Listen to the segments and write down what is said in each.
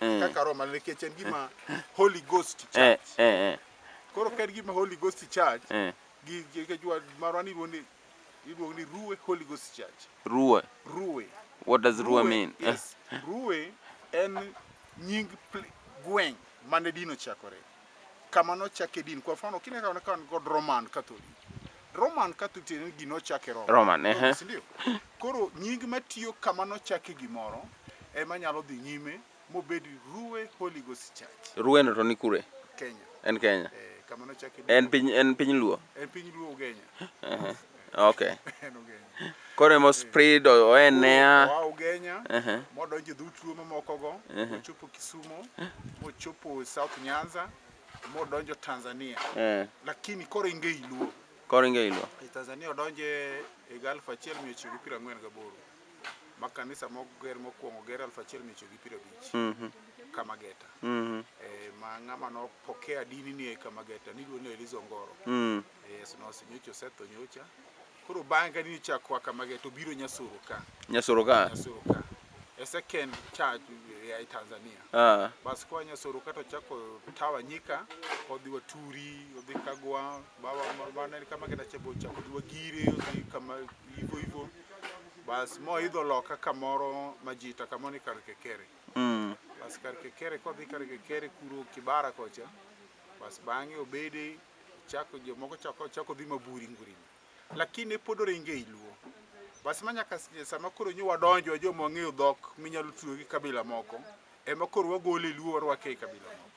Eh. kaka roho maler nikech en gima holy ghost eh, church eh, eh, koro ka en gima holy ghost church eh. gi gi- gi- jwa- marwa ni iluongo ni iluongo ni ruwe holy ghost church Ruwe. ruwe What does Ruwe mean? Eh, yes. Ruwe en nying pl- gweng' mane dino chakore. kama nochake din. Kwa mfano kile kama kama niko Roman Catholic. Roman Catholic tiende ni gino chake Roma. Roman, ehe. Roma, si ndio? Koro nying matiyo kama nochake gimoro ema nyalo dhi nyime mobed Ruwe Holy Ghost Church Rueno to ni kure? Kenya. En Kenya. Eh, kama nochake din. En piny en piny Luo. En piny Luo Ugenya. Ehe. Okay. En Ugenya. Koro emo spread o- oenea. Oa Ugenya, Ehe. modonjo dhout luo mamokogo, mochopo Kisumo, mochopo South Nyanza, modonjo Tanzania. Eh. Lakini koro inge iluo. Koro inge iluo. E Tanzania odonje higa 1948 ma kanisa moger mokwongo ger 1950 Mhm. Kamageta. Mhm. Eh, ma ng'ama nopokea dini ni e Kamageta niluongo ni Elizo Ngoro. Mm. Yesu nowacho nyocha osetho nyocha. Koro bang' ka ni chak kwa kama ge to biro nyasoro ka. Nyasoro ka. Nyasoro ka. E second charge ya e Tanzania. Ah. Bas kwa nyasoro ka to chako tawa nyika odhi wa turi odhi kagwa baba bana ni kama kenda chebo chako odhi wa gire odhi kama ivo ivo. Bas mo idho loka kamoro majita kama ni kar kekere. Mm. Bas kar kekere kodhi kar kekere kuro kibara kocha. Bas bang'e obede Chako jomoko chako chako dhi maburi ngurini. Lakini pod oringe ei Luo. Bas ma nyaka s- sama koro nyo wadonjo joma ong'eyo dhok minyalo tuyo gi kabila moko ema koro wagole e Luo warwake e kabila moko.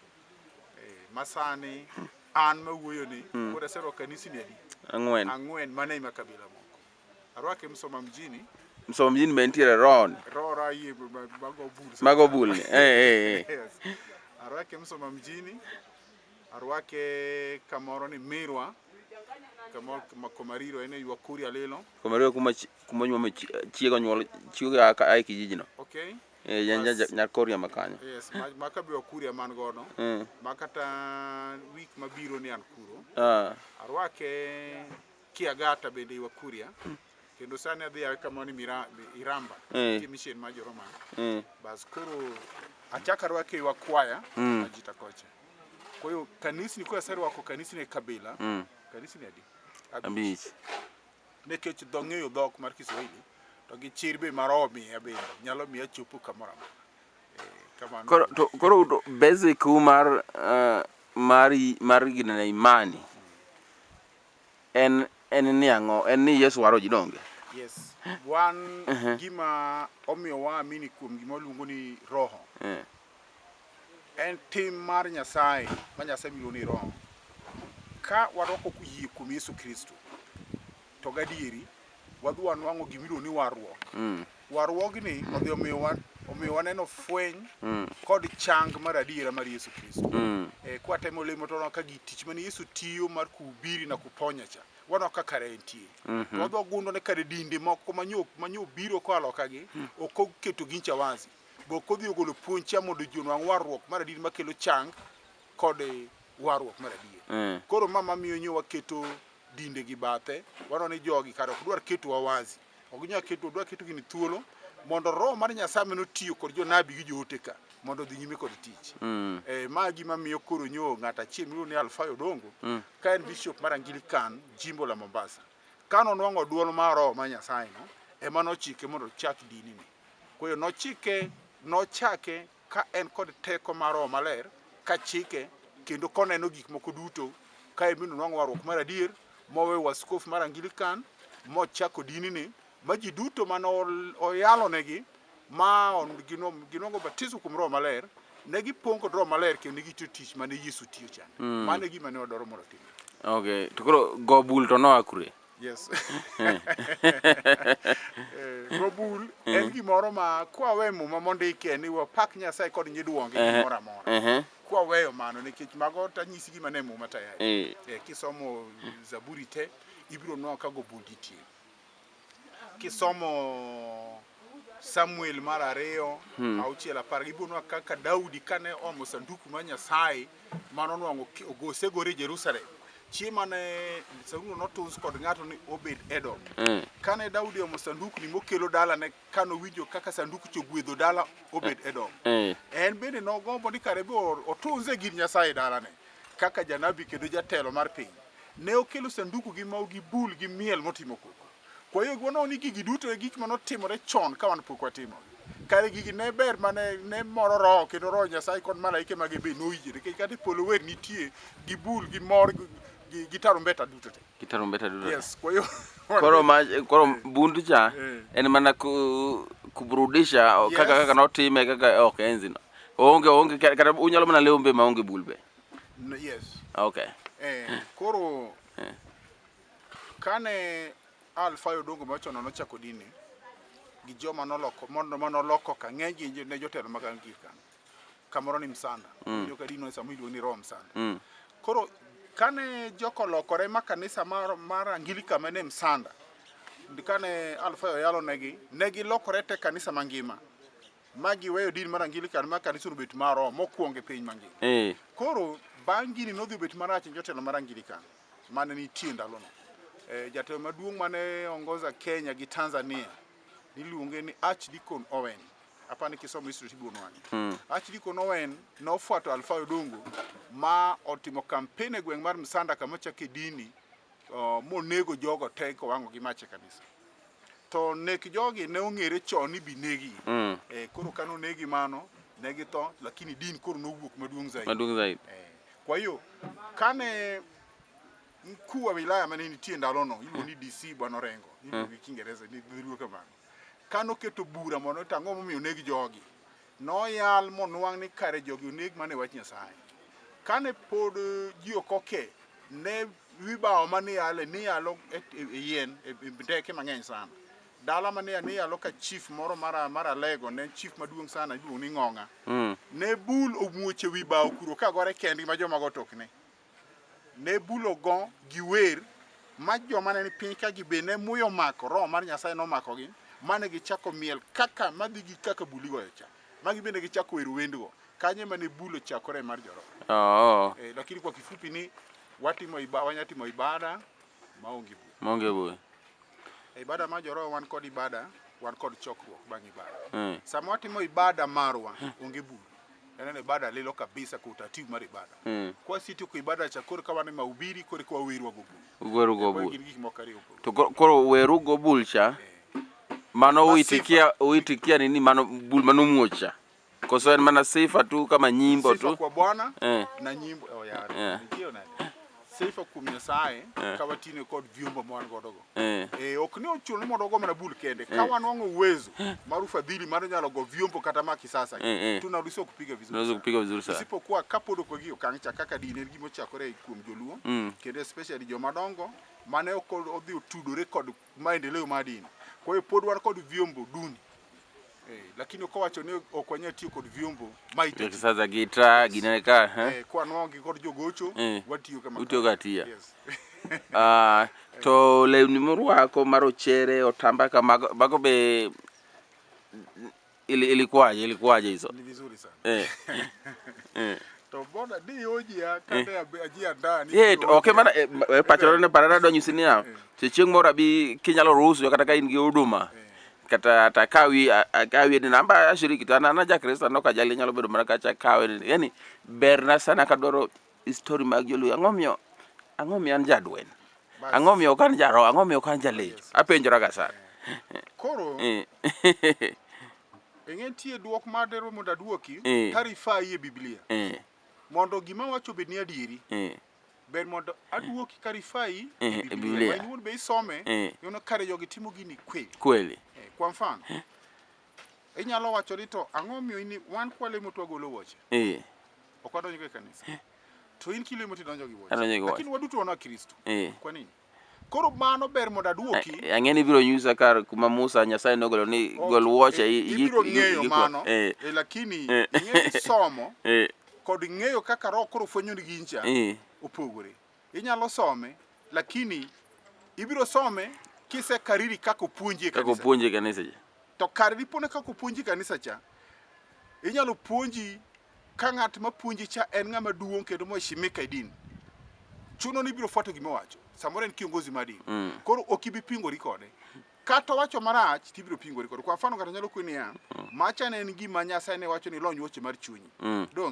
Eh, masani an mawuoyo ni koro aserwako kanisni adi? Ang'wen. Ang'wen mana ema kabila moko. Arwake Msoma mjini, Msoma mjini be nitiere Ron. Rora yie ma- ma- mago bul. Mago bulni. Eh, eh, eh. Yes. Arwake Msoma mjini, Arwake kamoro ni Mirwa, kamoro kuma- Komariro, en e ywa Kuria lilo. Komariro kuma chi- kuma nyuome chi- chiega nyuol chiega a ka- a e kijijino. Okay? Eh, yan- yan- Bas. Nyakoria ma kanyo. Yes, ma, ma ka be Wakuria man godo. Mm. Ma kata week mabiro ni an kuro. Ah. Arwake Kiagata bende i Wakuria. kendo sani adhi a kamoro ni Mira- Mi- iramba Eh. nitie mission mar joroma Eh. bas koro achaka rwake ywa kwaya Mm. ajita kocha kwa hiyo kanisni kwa serwako kanisni e kabila Mm. kanisni adi Abich. nikech dho ng'eyo dhok mar kiswahili to gi chir be mar omiya bende nyalo miya chopo kamoro amora Eh, kamano Koro to koro udo- basic u mar eh, mar i- mar gina na imani. En en ni ang'o? En ni Yesu waro ji donge? Yes. Wan gima omiyo waamini kuom gima waluongo ni roho. Eh. En tim mar Nyasaye, ma Nyasaye miluongo ni roho. Ka warwako yie kuom Yesu Kristo, to gadieri wadhi wanwang'o gima iluongo ni warruok. Warruogni odhi omiyo wa- omiyo waneno fweny kod chang mar adiera mar Yesu Kristo. Eh, Kwatemo lemo to waneno ka gi tich mane Yesu tiyo mar kuhubiri na kuponya cha waneno ka kare entie. To wadhi wagundo ne kare dinde moko manyo manyo biro koa loka gi ok oketo gincha wazi. Be ok odhi ogolo puonj cha mondo ji onwang' warruok mar adiera makelo chang kod warruok mar adier. Koro ma mamiyo nyo waketo dinde gi bathe, waneno ni jogi kare ok dwar ketowa wazi. Ok ginyal ketowa, dwa keto gini thuolo mondo roho mar Nyasaye mane otiyo kod jonabi gi joote ka mondo odhi nyime kod tich. Mm. Eh, ma gima miyo koro nyo ng'at achiel miluongo ni Alfayo Dongo mm. ka en bishop mar Anglican jimbo la Mombasa. Ka nonwang'o duol mar roho mar Nyasaye no, ema nochike mondo ochak dini ni. Kwa hiyo nochike nochake ka en kod teko mar Roho Maler ka chike kendo koneno gik moko duto, kae bende onwang'o warruok mar adier, moweyo waskofu mar Angilikan, mochako dinini, ma ji duto mane oyalonegi ma ginwang'o batiso kuom Roho Maler, ne gipong' kod Roho Maler kendo ne gitiyo tich mane Yesu tiyo chande. Mano e gima ne wadwaro mondo otimre. Okay, to koro go bul to noa kure? Yes. Eh, Gobul en gimoro ma kwawe muma mondike ni wapak Nyasaye kod nyiduonge Ehe. gimoro amora. Ehe. Kwaweyo mano nikech mago tanyisi gima ne muma tayari. Eh. Eh, kisomo Zaburi te ibiro nwa ka gobul nitie. Kisomo Samuel mar ariyo auchiel apar gi buonwa kaka Daudi kane omo sanduku mar Nyasaye mane onwang'o ki- ogo- osegore Jerusalem chieng' mane sandukuno notus kod ng'ato ni Obed Edom Mm. kane Daudi omo sandukni mokelo dalane kane owinjo kaka sanduku cha ogwedho dala Obed Edom Eh. en bende nogombo ni kare be or- otunze gir Nyasaye dalane kaka janabi kendo jatelo mar piny ne okelo sanduku gi mau gi bul gi miel motimo koko Kwa yo gi wanongo ni gigi duto e gik mane otimore chon ka wan pok watimogi. Kare gigi ne ber mane ne moro roho kendo roho Nyasaye kod malaike mage be noyie nikech kata e polo wer nitie gi bul gi mor gi, gi, gi tarumbeta duto te. Gi tarumbeta duto. Yes, kwa yo Koro ma koro bundu cha Eh. en mana ku kuburudisha o- kaka Yes. kaka notime kaka ok enzi no. Onge onge ka- kata unyalo mana lewo mbe ma onge bulbe. N- yes. Okay. Eh, koro Kane Alfayo Odongo machon nono chako dini gi joma noloko mondo ma noloko ka ng'eny gi jo- ne jotelo mag Anglican kamoro ni Msanda mm. joka dino sama iluongo ni Rome Msanda mm. koro kane joko lokore ma kanisa mar, mar Anglican mane Msanda ndi- kane Alfayo yalo negi ne gilokore te kanisa mangima ma giweyo din mar Anglican ma kanisa obet mar Rome mokwongo e piny mangima Eh. koro bang' gini nodhi obet marach ne jotelo mar Anglican mane nitie e ndalono. E, jatelo maduong' mane ongoza Kenya gi Tanzania niluonge ni Archdeacon Owen. Apa ni kisomo history tiduono wang'e. Mm. Archdeacon Owen nofuato Alfa Odongo ma otimo kampeni e gweng' mar Msanda kama chake dini uh, monego jogo te kowang'o gi mach e kanisa. To nek jogi ne ong'ere chon ni binegi. Mm. Eh, koro kane onegi mano ne githo lakini din koro nowuok maduong' zaidi. Maduong' zaidi. Eh, kwa hiyo kane mkuu wa wilaya mane nitie ndalono iluongo ni DC Bwana Orengo iluongo gi Kiingereza ni dholuo kamano kane oketo bura mondo ota ang'o momiyo oneg jogi Noyal monwang' ni kare jogi oneg mana e wach Nyasaye. Kane pod ji ok oke, ne wi bao ma niyale niyalo e, e, e yien e, e ndeke mang'eny sana. Dala ma ne niyalo ka chief moro mar mar Alego ne en chief maduong' sana iluongo ni Ng'ong'a. Ne bul omuoche wi bao kuro ka gore kendgi ma jomago otokne. ne bulo go gi wer ma joma ne ni piny ka gi be ne muyo mako roho mar Nyasaye nomakogi mane gichako miel kaka madhi gi kaka buli goyo cha magi bende gichako wer wendgo kanye mane bulo chakore mar joroho Oo. eh, lakini kwa kifupi ni watimo iba, wanyatimo ibada maonge bura. Maonge bura. E ibada mar joroho wan kod ibada, wan kod chokruok bang' ibada. Mm. Sama watimo ibada marwa, onge bura. Yaneno ibada lilo kabisa kwa utaratibu mar ibada. Mm. Kwa siti kwa ibada cha kore kawa ni mahubiri kore kwa weru wago bul. Weru go bul. Gin gik moko ariyo. To koro weru go bul cha. Eh. Mano uitikia uitikia nini mano bul mano muocha. Koso en mana sifa tu kama nyimbo tu. Sifa kwa Bwana eh. na nyimbo oh, yeah. Yeah. Sifa kuom Nyasaye eh. ka watine kod vyombo ma wan godo go. Eh. eh ok ni ochuno ni mondo ogo mana bul kende. Ka eh. wanwang'o uwezo eh. mar ufadhili mar nyalo go vyombo kata ma kisasa eh. eh. tunaweza kupiga vizuri. Tunaweza kupiga vizuri sana. Isipokuwa kapod ok wagi okang' cha kaka dini en gima ochakore kuom joluo mm. kendo especially joma dongo mane ok odhi otudore kod maendeleo mar dini. Kwa hiyo pod wan kod vyombo duni eh, lakini ukawacho ni ok wanyal tiyo kod vyombo maita sasa gita gineka eh, kwa nwangi kod jogocho eh, watiyo kama utiyo gatia yes. uh, to lewni morwako marochere otamba kamago bago be Ili, ilikuwaje ilikuwaje hizo? Ni vizuri sana. Eh. eh. To bona di oji ya kata ya eh. aji anda ni. Eh, okay mana eh, eh pachoro ne parada do nyusini ya. Se chieng mora bi kinyalo ruhusu kata ka in gi huduma. Eh. Kata ata kawi akawi ni namba ashiriki to anana ja Kristo no kajali nyalo bedo mana kacha kawi. Yani berna sana kadoro Story mag joluo ang'o miyo ang'o miyo an jadwen ang'o miyo ok an jaro ang'o miyo ok an jalecho oh, apenjora ga sana koro eh. eng'e tie duok mar dero mondo aduoki eh. tarifa e biblia eh. mondo gima wacho bed ni adieri ber mondo aduoki karifai e biblia wanyuol be isome yono kare jogi timo gini kweli kweli kwa mfano Inyalo wacho ni to ang'o omiyo in wan kwalemo to wagolo wuoche. Eh. Ok wadonjo e kanisa. Eh. To in kilemo to idonjo gi wuoche. Lakini waduto wana Kristo. Eh. Kwa nini? Koro mano ber mondo aduoki. Eh, ang'e ni ibiro nyisa kar kuma Musa Nyasaye nogolo ni gol wuoche. Ibiro ng'eyo mano. Eh. eh lakini ing'e somo kod ng'eyo kaka roho koro fwenyo ni gincha opogore. Inyalo some lakini ibiro some kise kariri kako puonji e kanisa. Kako puonji e kanisa cha. To kar dipone kako puonji e kanisa cha, inyalo puonji ka ng'at ma puonji cha en ng'ama duong' kendo moheshimika e din. Chuno ni ibiro fuato gima wacho. Samoro en kiongozi ma din. Mm. Koro ok ibi pingori kode. Kata wacho marach to ibiro pingori kode. Kwa mfano kata nyalo kweni ya, mm. macha ne en gima Nyasaye ne wacho ni lony wuoche mar chunyi. Mm. Dong.